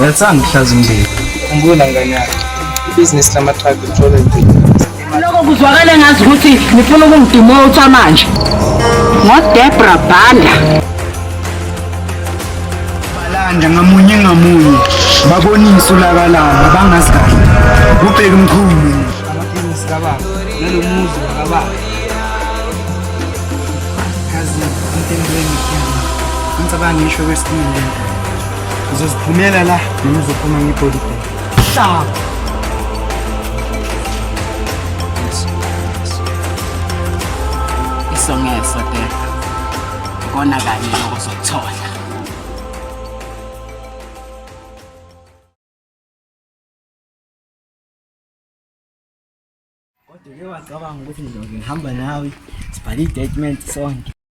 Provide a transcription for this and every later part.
Uyathanda ukuhlaza umndeni. Khumbula ngane yakho. Ibhizinisi lama-truck lithole impilo. Lokho kuzwakala ngazi ukuthi nifuna ukungidumotha manje. NgoDebra Banda. Balanda ngamunye ngamunye babonise ulaka labo bangazi kahle. Ubheke umkhulu. Amabhizinisi kababa nalomuzi wakababa. Kazi intembeni. Ngicabanga ngisho kwesinye. Uzoziphumela la noma uzophuma ngebody bag. Hlaba. Isongeso de. Kona kanye okuzothola. Kodwa ke wacabanga ukuthi ngizongihamba nawe sibhale i-statement sonke.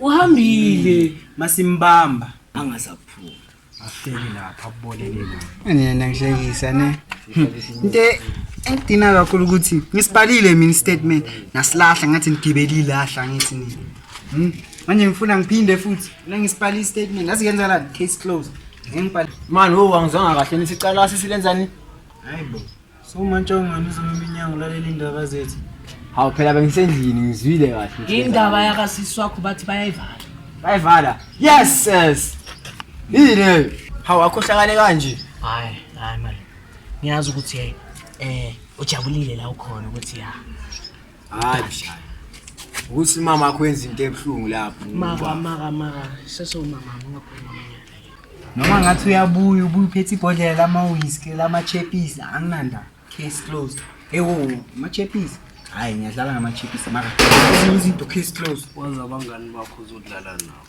uhambile masimbamba angasaphuma ahleli lapha kuboleke lapha nina ngihlekisa ne into engidina kakhulu ukuthi ngisibhalile mina statement nasilahla ngathi ngigibelile ahla ngithi nini Hmm? manje ngifuna ngiphinde futhi la ngisibhala i-statement yazi kenza la case close ngengibhala mani wo angizwanga kahle nithi icala sisilenzani hayi bo So manje ungani uzoma iminyango lalela indaba zethu. Hawu phela bengisendlini ngizwile kahle. Indaba yaka sisi wakho bathi bayayivala. Bayivala. Yes yes. Yini? Hawu akhohlakale kanje. Hayi, hayi manje. Ngiyazi ukuthi eh ujabulile la ukhona ukuthi ya. hayi mshaya ukuthi mama akho wenza into ebuhlungu lapho maka maka maka sesomama ungakhuluma noma ngathi uyabuya ubuye uphethe ibhodlela lama-whisky lama-chepisi anginanda case closed ewo ama-chepisi hhayi ngiyadlala ngama-chepisi maka ezinye izinto case closed wazi abangani bakho uzodlala nabo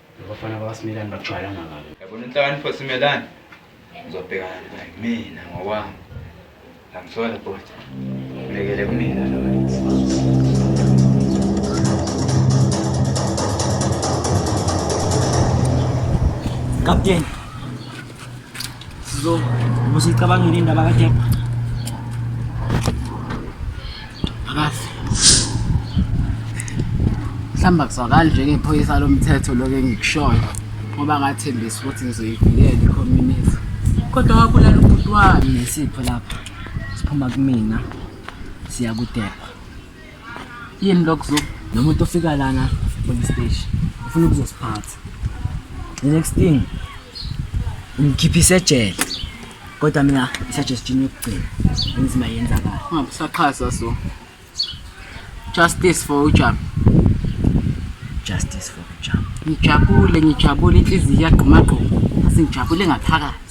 Abafana bakaSimelane bajwayelana kabi. Yabona inhlakanipho Simelane uzobhekana naye mina ngokwami. Angisola bhuti. Ngibekele kumina lo. Kapteni, So, was ich kabange rin da bagat yap. Agas. Mhlamba kuzwakala nje ngephoyisa lomthetho lokho engikushoyo ngoba ngathembisa ukuthi ngizoyivikela i-community. Kodwa wabulala ubhuti wami. Nesipho lapha siphuma kumina siya kudepa. yini lokho zoku nomuntu ofika lana police station ufuna ukuzosiphatha the next thing ngikhiphise ejele kodwa mina isuggestion yokugcina enzima yenzakala ungabusaqhaza so justice for ujam justice for ujam ngijabule ngijabule inhliziyo iyagqumagquma asingijabule ngaphakathi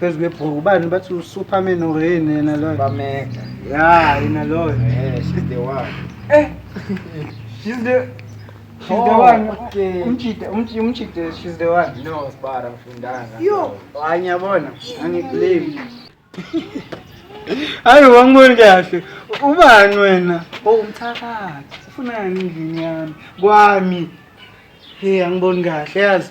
phezu kwebhuku ubani bathi usuperman or yini yena loyo bamega ya yena loyo eh she's the one eh she's the she's the Oh, one okay. umjide umji- umjide she's the one no sibara ngifundanga yo hayi ngiyabona angibelieve hayi wangiboni kahle ubani wena o umthakathi ufunani endlini yami kwami he angiboni kahle yazi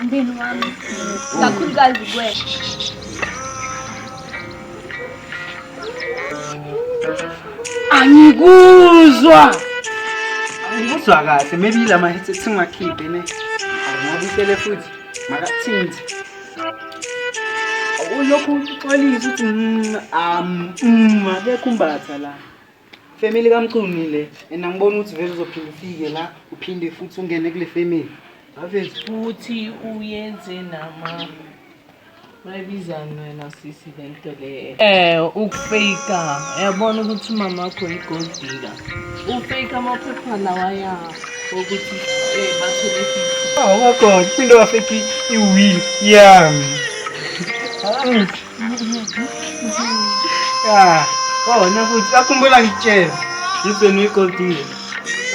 umndeni wami kakhulukazi kuwe angikuzwa angikuzwa kahle maybe yila mahetse singakhiphe ne angabisele futhi makathinzi ulokhu uxolisa ukuthi mm, um, mm, akekho umbatha la Family kamcuni le and angiboni ukuthi vele uzophinde ufike la uphinde futhi ungene kule family avezi futhi uyenze nama bayibizani wena sisi le nto le um ukufeyika uyabona ukuthi umama wakho yi-gold digger ufeyika amaphepha lawa ya okuthi um bathole fifty awakona into wafeki iwili yami Ah, oh, nakuthi akhumbula ngitshela. Ngibheni uyigodile.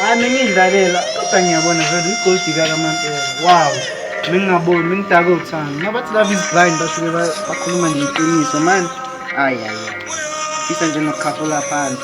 Hayi ningidlalela kodwa ngiyabona vele uyigodi kakaMampela. Wow. Ningingaboni, ningidake uthando. Nabathi love is blind basuke ba- bakhuluma nje iqiniso manje. Ayi ayi ayi. Fisa nje nokukhafula phansi.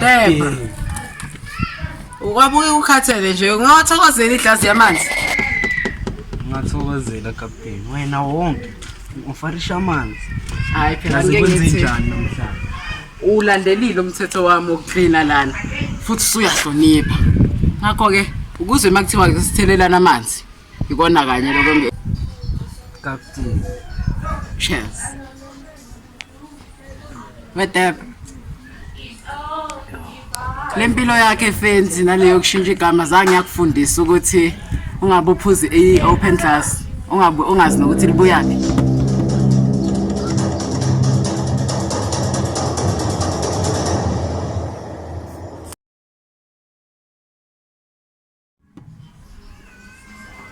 Debra. Ukwabuke ukhathele nje. Ungawathokozela iglasi yamanzi. Ngathokozela captain. Wena wonke ufarisha amanzi. Hayi phela ngeke ngithi. Ngikwenze njani namhlanje? uwulandelile umthetho wami wokuklina lana futhi usuyahlonipha ngakho-ke ukuze uma kuthiwa sithelelana amanzi ikona kanye lokho nge captain cheers wedebe le mpilo yakhe fenzi naleyo kushintsha igama zange yakufundisa ukuthi ungabe uphuze i-open class ungabe ungazi nokuthi libuyaphi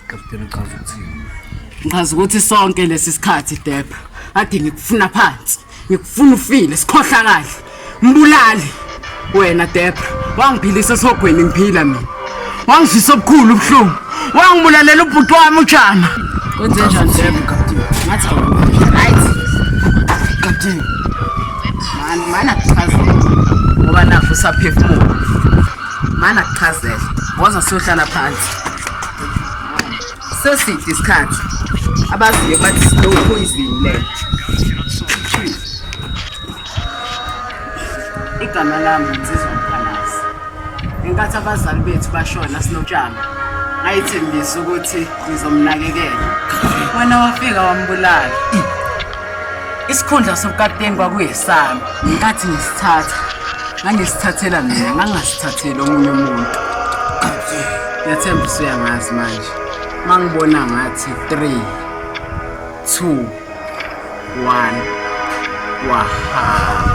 Kapteni uchaza ukuthini? Ngichaza ukuthi sonke lesi sikhathi Debra ade ngikufuna phansi. Ngikufuna ufile sikhohlakali. Mbulali wena Debra wangiphilisa esogweni ngiphila mina. Wangizwisa obukhulu ubuhlungu. Wangibulalela ubhuti wami uJama. Kwenze njani Debra kapteni? Ngathi awukuhle. Right. Kapteni. Mani mana kuchaza. Ngoba nafu saphefumula. Mani akuchazele. Woza siyohlala phansi. Seside isikhathi. Abaziyo bathi slow poison le. Igama lami ngizizwa mkhalazi. Ngenkathi abazali bethu bashona sinotshani. Ngayithembisa ukuthi ngizomnakekela. Wena wafika wambulala. Isikhundla sobukapteni kwakuyesami. Ngenkathi ngisithatha, ngangisithathela mina, ngangingasithatheli omunye umuntu. Ngiyathemba usuyangazi manje. Uma ngibona ngathi 3 2 1 wahamba.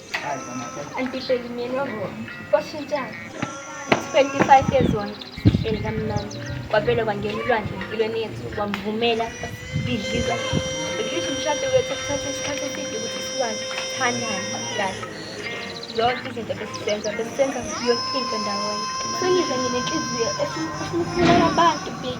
Antipelumyeni wabo kwashintshana 25 years on eli kamnani kwavele kwangena ulwandle empilweni yethu wamvumela bidliza bidlisha umshado wethu kuthatha isikhathi eside ukuthi siwazi thandane kahle zonke izinto besizenza besizenza yonke into ndawonye sengize nginenhliziyo esimkhulula abantu big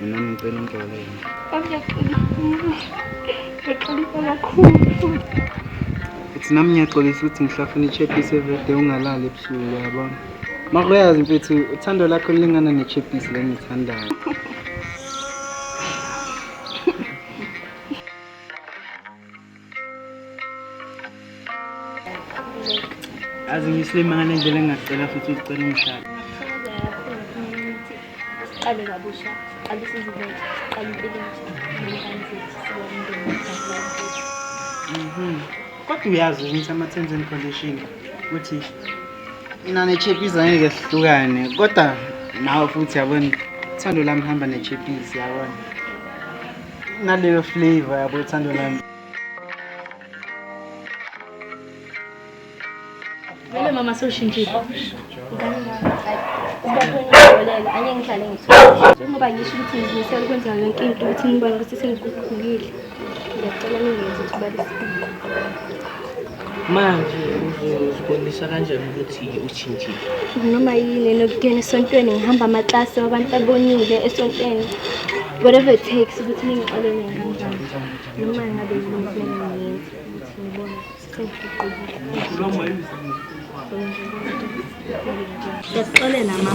Mina ngicela umxolele. Ngiyaxolisa kakhulu futhi. Futhi nami ngiyaxolisa ukuthi ngihlafuna ichepisi everyday ungalali ebusuku yabona. Mara uyazi mfethu uthando lakho lulingana nechepisi lengithandayo. azi ngisilima ngale ndlela engingacela futhi uzicela umshado siqale kabusha siqale sizibeke siqale impilo mhm. kodwa uyazi ukuthi ama-terms and condition ukuthi mina nechepies angeke sihlukane kodwa nawe futhi yabona thando lami hamba nechepies yabona naleyo flavor yabo ethando lami Vele mama sewushintshile. Anye ngihlale ngithuka. Njengoba ngisho ukuthi ngizimisele ukwenza yonke into ukuthi nibone ukuthi sengiguqukile. Ngiyacela ningenzi ukuthi balisibuko. manje uzozibonisa kanjani ukuthi ushintshile noma yini enokuyona esontweni ngihamba amaklasi wabantu abonile esontweni whatever it takes ukuthi ningixole ngihambanjani noma ngabe yiniengiyenza ukuthi nibone sengiqubile ngiyakuxolela ma